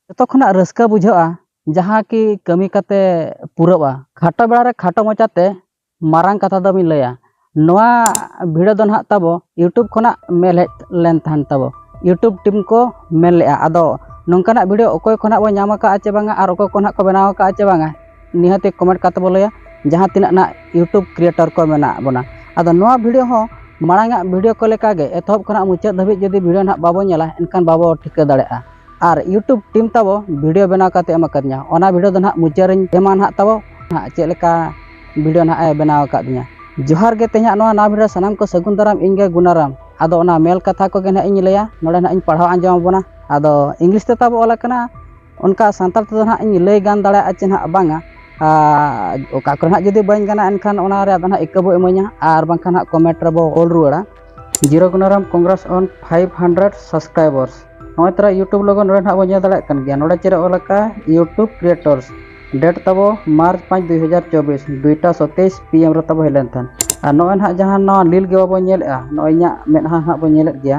ᱡᱚᱛᱚ ᱠᱷᱚᱱᱟᱜ ᱨᱟᱹᱥᱠᱟᱹ ᱵᱩᱡᱷᱟᱹᱜᱼᱟ ᱡᱟᱦᱟᱸ ᱠᱤ ᱠᱟᱹᱢᱤ ᱠᱟᱛᱮ ᱯᱩᱨᱟᱹᱜᱼᱟ ᱠᱷᱟᱴᱚ ᱵᱮᱲᱟ ᱨᱮ ᱠᱷᱟᱴᱚ ᱢᱟᱪᱷᱟ ᱛᱮ ᱢᱟᱨᱟᱝ ᱠᱟᱛᱷᱟ ᱫᱚ ᱵᱤᱱ ᱞᱟᱹᱭᱟ ᱱᱚᱣᱟ ᱵᱷᱤᱰᱤᱭᱳ ᱫᱚ ᱱᱟᱦᱟᱜ ᱛᱟᱵᱚ ᱤᱭᱩᱴᱩᱵᱽ ᱠᱷᱚᱱᱟᱜ ᱢᱮᱞ ᱦᱮᱡ ᱞᱮᱱ ᱛᱟᱦᱮᱱ ᱛᱟᱵᱚ ᱤᱭᱩᱴᱩᱵᱽ ᱴᱤᱢ ᱠᱚ ᱢᱮᱱ ᱞᱮᱜᱼᱟ ᱟᱫᱚ ᱱᱚᱝᱠᱟᱱᱟᱜ ᱵᱷᱤᱰᱤᱭᱳ ᱚᱠᱚᱭ ᱠᱷᱚᱱᱟᱜ ᱵᱚᱱ ᱧᱟᱢ ᱟᱠᱟᱫᱼᱟ ᱪᱮ ᱵᱟᱝᱟ ᱟᱨ ᱚᱠᱚᱭ ᱠᱚ ᱱᱟᱦᱟᱜ ᱠᱚ ᱵᱮᱱᱟᱣ ᱟᱠᱟᱫᱼᱟ ᱪᱮ ᱵᱟᱝᱟ ᱱᱤᱦᱟᱹᱛ ᱠᱚᱢᱮᱱᱴ ᱠᱟᱛᱮ ᱵᱚ ᱞᱟᱹᱭᱟ ᱡᱟᱦᱟᱸ ᱛᱤᱱᱟᱹᱜ ᱱᱟᱜ ᱤᱭᱩᱴᱩᱵᱽ ᱠᱨᱤᱭᱮᱴᱚᱨ ᱠᱚ ᱢᱮᱱᱟᱜ ᱵᱚᱱᱟ ᱟᱫᱚ ᱱᱚᱣᱟ ᱵᱷᱤᱰᱤᱭᱳ ᱦᱚᱸ ᱢᱟᱲᱟᱝ ᱟᱜ ᱵᱷᱤᱰᱤᱭᱳ ᱠᱚ ᱞᱮᱠᱟ ᱜᱮ ᱮᱛᱚᱦᱚᱵ ᱠᱷᱚᱱᱟᱜ ᱢᱩᱪᱟᱹᱫ ᱫᱷᱟᱹᱵᱤᱡ ᱡᱩᱫᱤ ᱵᱷᱤᱰᱤᱭᱳ ᱱᱟᱜ ᱵᱟᱵᱚ ᱧᱮᱞᱟ ᱮᱱᱠᱷᱟᱱ ᱵᱟᱵᱚ ᱴᱷᱤᱠᱟᱹ ᱫᱟᱲᱮᱭᱟᱜᱼᱟ ᱟᱨ ᱤᱭᱩᱴᱩᱵᱽ ᱴᱤᱢ ᱛᱟᱵᱚ ᱵᱷᱤᱰᱤᱭᱳ ᱵᱮᱱᱟᱣ ᱠᱟᱛᱮ ᱮᱢ ᱟᱠᱟᱫᱤᱧᱟ ᱚᱱᱟ ᱵᱷᱤᱰᱤᱭᱳ ᱫᱚ ᱱᱟᱜ ᱢᱩᱪᱟᱹᱫ ᱨᱮᱧ ᱮᱢᱟ ᱱᱟᱜ ᱛᱟᱵᱚ ᱱᱟᱜ ᱪᱮᱫ ᱞᱮᱠᱟ ᱵᱷᱤᱰᱤᱭᱳ ᱱᱟᱜ ᱮ ᱵᱮᱱᱟᱣ ᱟᱠᱟᱫᱤᱧᱟ ᱡᱚᱦᱟᱨ ᱜᱮ ᱛᱮᱦᱮᱧᱟᱜ ᱱᱚᱣᱟ ᱱᱟᱣᱟ ᱵᱷᱤᱰᱤᱭᱳ ᱥᱟᱱᱟᱢ ᱠᱚ ᱥᱟᱹᱜᱩᱱ ᱫᱟᱨᱟᱢ ᱤᱧ ᱜᱮ ᱜᱩᱱᱟᱨᱟᱢ ᱟᱫᱚ ᱚᱱᱟ ᱢᱮᱞ ᱠᱟᱛᱷᱟ ᱠᱚᱜᱮ ᱱᱟᱜ ᱤᱧ ᱞᱟᱹᱭᱟ ᱱᱚᱰᱮ ᱱᱟᱜ ᱤᱧ ᱯᱟᱲᱦᱟᱣ ᱟᱸᱡᱚᱢ ᱟᱵᱚᱱᱟ ᱟᱫᱚ ᱤᱝᱞᱤᱥ ᱛᱮ ᱛᱟᱵᱚ ᱚᱞ ᱟᱠᱟᱱᱟ ᱚᱱᱠᱟ ᱥᱟᱱᱛᱟᱲ ᱛᱮᱫᱚ ᱱᱟᱦᱟᱜ ᱤᱧ ᱞᱟᱹᱭ ᱜᱟᱱ ᱫᱟᱲᱮᱭᱟᱜᱼᱟ ᱪᱮ ᱱᱟᱦᱟᱜ ᱵᱟᱝᱟ ᱟᱨ ᱚᱠᱟ ᱠᱚᱨᱮ ᱱᱟᱦᱟᱜ ᱡᱩᱫᱤ ᱵᱟᱹᱧ ᱜᱟᱱᱟ ᱮᱱᱠᱷᱟᱱ ᱚᱱᱟ ᱨᱮᱭᱟᱜ ᱫᱚ ᱱᱟᱦᱟᱜ ᱤᱠᱟᱹ ᱵᱚ ᱤᱢᱟᱹᱧᱟ ᱟᱨ ᱵᱟᱝᱠᱷᱟᱱ ᱱᱟᱦᱟᱜ ᱠᱚᱢᱮᱱᱴ ᱨᱮᱵᱚ ᱚᱞ ᱨᱩᱣᱟᱹᱲᱟ ᱡᱤᱨᱳ Gunaram congrats on five hundred subscribers ᱱᱚᱜᱼᱚᱭ ᱛᱚᱨᱟ ᱤᱭᱩᱴᱩᱵᱽ ᱞᱚᱜᱚ ᱱᱚᱰᱮ ᱱᱟᱦᱟᱜ ᱵᱚ ᱧᱮᱞ ᱫᱟᱲᱮᱭᱟᱜ ᱠᱟᱱ ᱜᱮᱭᱟ ᱱᱚᱰᱮ ᱪᱮᱫ ᱚᱞ ᱟᱠᱟᱜᱼᱟ ᱤᱭᱩᱴᱩᱵᱽ ᱠᱨᱤᱭᱮᱴᱚᱨᱥ ᱰᱮᱴ ᱛᱟᱵᱚ ᱢᱟᱨᱪ ᱯᱟᱸᱪ ᱫᱩᱭ ᱦᱟᱡᱟᱨ ᱪᱚᱵᱵᱤᱥ ᱫᱩᱭᱴᱟ ᱥᱚᱛᱮᱭᱤᱥ ᱯᱤ ᱮᱢ ᱨᱮ ᱛᱟᱵᱚ ᱦᱮᱡ ᱞᱮᱱ ᱛᱟᱦᱮᱸᱫ ᱟᱨ ᱱᱚᱜᱼᱚᱭ ᱱᱟᱦᱟᱜ ᱡᱟᱦᱟᱸ ᱱᱚᱣᱟ ᱞᱤᱞ ᱜᱮ ᱵᱟᱵᱚ ᱧᱮᱞᱮᱜᱼᱟ ᱱᱚᱜᱼᱚᱭ ᱤᱧᱟᱹᱜ ᱢᱮᱫᱦᱟ ᱱᱟᱦᱟᱜ ᱵᱚᱱ ᱧᱮᱞᱮᱫ ᱜᱮᱭᱟ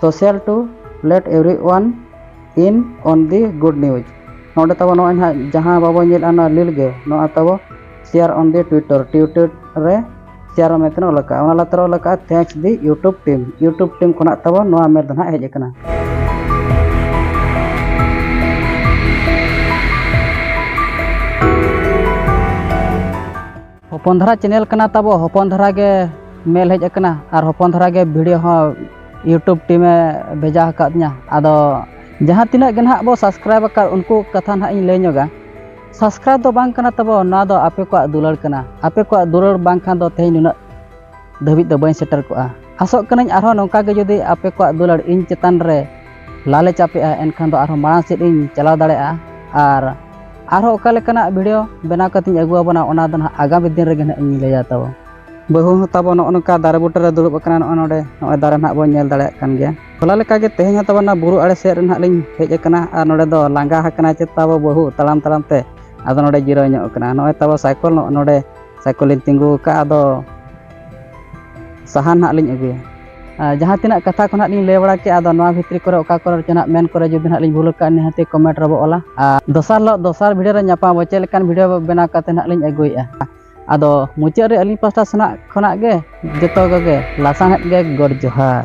social to let everyone in on the good news ᱱᱚᱰᱮ ᱛᱟᱵᱚ ᱱᱚᱜᱼᱚᱭ ᱱᱟᱦᱟᱜ ᱡᱟᱦᱟᱸ ᱵᱟᱵᱚ ᱧᱮᱞᱟ ᱱᱚᱣᱟ ᱞᱤᱞ ᱜᱮ ᱱᱚᱣᱟ ᱛᱟᱵᱚ share on the Twitter Twitter ᱨᱮ ᱥᱮᱭᱟᱨ ᱢᱮᱱᱛᱮ ᱚᱞ ᱟᱠᱟᱫᱼᱟ ᱚᱱᱟ ᱞᱟᱛᱟᱨ ᱚᱞ ᱟᱠᱟᱫᱼᱟ thanks the YouTube team YouTube team ᱠᱷᱚᱱᱟᱜ ᱛᱟᱵᱚ ᱱᱚᱣᱟ ᱢᱮᱞ ᱫᱚ ᱱᱟᱦᱟᱜ ᱦᱮᱡ ᱟᱠᱟᱱᱟ ᱦᱚᱯᱚᱱ ᱫᱷᱟᱨᱟ ᱪᱮᱱᱮᱞ ᱠᱟᱱᱟ ᱛᱟᱵᱚ ᱦᱚᱯᱚᱱ ᱫᱷᱟᱨᱟ ᱜᱮ ᱢᱮᱞ ᱦᱮᱡ ᱟᱠᱟᱱᱟ ᱟᱨ ᱦᱚᱯᱚᱱ ᱫᱷᱟᱨᱟ ᱜᱮ ᱵᱷᱤᱰᱤᱭᱳ ᱦᱚᱸ ᱤᱭᱩᱴᱩᱵᱽ ᱴᱤᱢᱮ ᱵᱷᱮᱡᱟ ᱟᱠᱟᱫᱤᱧᱟ ᱟᱫᱚ ᱡᱟᱦᱟᱸ ᱛᱤᱱᱟᱹᱜ ᱜᱮ ᱱᱟᱦᱟᱜ ᱵᱚ ᱥᱟᱵᱥᱠᱨᱟᱭᱤᱵᱽ ᱟᱠᱟᱫ ᱩᱱᱠᱩ ᱠᱟᱛᱷᱟ ᱱᱟᱦᱟᱜ ᱤᱧ ᱞᱟᱹᱭ ᱧᱚᱜᱟ ᱥᱟᱵᱥᱠᱨᱟᱭᱤᱵᱽ ᱫᱚ ᱵᱟᱝ ᱠᱟᱱᱟ ᱛᱟᱵᱚ ᱱᱚᱣᱟ ᱫᱚ ᱟᱯᱮ ᱠᱚᱣᱟᱜ ᱫᱩᱞᱟᱹᱲ ᱠᱟᱱᱟ ᱟᱯᱮ ᱠᱚᱣᱟᱜ ᱫᱩᱞᱟᱹᱲ ᱵᱟᱝᱠᱷᱟᱱ ᱫᱚ ᱛᱮᱦᱮᱧ ᱱᱩᱱᱟᱹᱜ ᱫᱷᱟᱹᱵᱤᱡ ᱫᱚ ᱵᱟᱹᱧ ᱥᱮᱴᱮᱨ ᱠᱚᱜᱼᱟ ᱟᱥᱚᱜ ᱠᱟᱹᱱᱟᱹᱧ ᱟᱨᱦᱚᱸ ᱱᱚᱝᱠᱟ ᱜᱮ ᱡᱩᱫᱤ ᱟᱯᱮ ᱠᱚᱣᱟᱜ ᱫᱩᱞᱟᱹᱲ ᱤᱧ ᱪᱮᱛᱟᱱ ᱨᱮ ᱞᱟᱞᱮ ᱪᱟᱯᱮᱜᱼᱟ ᱮᱱᱠᱷᱟᱱ ᱫᱚ ᱟᱨᱦᱚᱸ ᱢᱟᱲᱟᱝ ᱥᱮᱫ ᱤᱧ ᱪᱟᱞᱟᱣ ᱫᱟᱲᱮᱭᱟᱜᱼᱟ ᱟᱨ ᱟᱨᱦᱚᱸ ᱚᱠᱟ ᱞᱮᱠᱟᱱᱟᱜ ᱵᱷᱤᱰᱤᱭᱳ ᱵᱮᱱᱟᱣ ᱠᱟᱛᱮᱧ ᱟᱹᱜᱩ ᱟᱵᱚᱱᱟ ᱚᱱᱟ ᱫᱚ ᱱᱟᱦᱟᱜ ᱟᱜᱟᱢᱤ ᱫᱤᱱ ᱨᱮᱜᱮ ᱱᱟᱦᱟᱜ ᱤᱧ ᱞᱟᱹᱭᱟ ᱛᱟᱵᱚ ᱵᱟᱹᱦᱩ ᱦᱚᱸ ᱛᱟᱵᱚ ᱱᱚᱜᱼᱚ ᱱᱚᱝᱠᱟ ᱫᱟᱨᱮ ᱵᱩᱴᱟᱹ ᱨᱮ ᱫᱩᱲᱩᱵ ᱟᱠᱟᱱᱟ ᱱᱚᱜᱼᱚ ᱱᱚᱰᱮ ᱱᱚᱜᱼᱚᱭ ᱫᱟᱨᱮ ᱱᱟᱦᱟᱜ ᱵᱚᱱ ᱧᱮᱞ ᱫᱟᱲᱮᱭᱟᱜ ᱠᱟᱱ ᱜᱮᱭᱟ ᱦᱚᱞᱟ ᱞᱮᱠᱟᱜᱮ ᱛᱮᱦᱮᱧ ᱦᱚᱸ ᱛᱟᱵᱚᱱᱟ ᱵᱩᱨᱩ ᱟᱲᱮ ᱥᱮᱫ ᱨᱮ ᱱᱟᱦᱟᱜ ᱞᱤᱧ ᱦᱮᱡ ᱟᱠᱟᱱᱟ ᱟᱨ ᱱᱚᱰᱮ ᱫᱚ ᱞᱟᱸᱜᱟ ᱟᱠᱟᱱᱟ ᱪᱮᱫ ᱛᱟᱵᱚ ᱵᱟᱹᱦᱩ ᱛᱟᱲᱟᱢ ᱛᱟᱲᱟᱢ ᱛᱮ ᱟᱫᱚ ᱱᱚᱰᱮ ᱡᱤᱨᱟᱹᱣ ᱧᱚᱜ ᱟᱠᱟᱱᱟ ᱱᱚᱜᱼᱚᱭ ᱛᱟᱵᱚ ᱥᱟᱭᱠᱮᱞ ᱱᱚᱜᱼᱚ ᱱᱚᱰᱮ ᱥᱟᱭᱠᱮᱞᱤᱧ ᱛᱤᱸᱜᱩ ᱟᱠᱟᱫᱼᱟ ᱟᱫᱚ ᱥᱟᱦᱟᱱ ᱦᱟᱸᱜ ᱞᱤᱧ ᱟᱹᱜᱩᱭᱟ ᱡᱟᱦᱟᱸ ᱛᱤᱱᱟᱹᱜ ᱠᱟᱛᱷᱟ ᱠᱚ ᱱᱟᱦᱟᱜ ᱞᱤᱧ ᱞᱟᱹᱭ ᱵᱟᱲᱟ ᱠᱮᱫᱼᱟ ᱟᱫᱚ ᱱᱚᱣᱟ ᱵᱷᱤᱛᱨᱤ ᱠᱚᱨᱮ ᱚᱠᱟ ᱠᱚᱨᱮ ᱪᱚ ᱱᱟᱦᱟᱜ ᱢᱮᱱ ᱠᱚᱨᱮ ᱡᱩᱫᱤ ᱱᱟᱦᱟᱜ ᱞᱤᱧ ᱵᱷᱩᱞ ᱟᱠᱟᱫ ᱱᱤᱦᱟᱹᱛ ᱠᱚᱢᱮᱱᱴ ᱨᱮᱵᱚ ᱚᱞᱟ ᱟᱨ ᱫᱚᱥᱟᱨ ᱦᱤᱞᱳᱜ ᱫᱚᱥᱟᱨ ᱵᱷᱤᱰᱤᱭᱳ ᱨᱮ ᱧᱟᱯᱟᱢ ᱟᱵᱚ ᱪᱮᱫ ᱞᱮᱠᱟᱱ ᱵᱷᱤᱰᱤᱭᱳ ᱵᱮᱱᱟᱣ ᱠᱟᱛᱮ ᱱᱟᱦᱟᱜ ᱞᱤᱧ ᱟᱹᱜᱩᱭᱮᱫᱼᱟ ᱟᱫᱚ ᱢᱩᱪᱟᱹᱫ ᱨᱮ ᱟᱹᱞᱤᱧ ᱯᱟᱥᱴᱟ ᱥᱮᱱᱟᱜ ᱠᱷᱚᱱᱟᱜ ᱜᱮ ᱡᱚᱛᱚ ᱠᱚᱜᱮ ᱞᱟᱥᱟᱬᱦᱮᱫ ᱜᱮ ᱜᱚᱰ ᱡᱚᱦᱟᱨ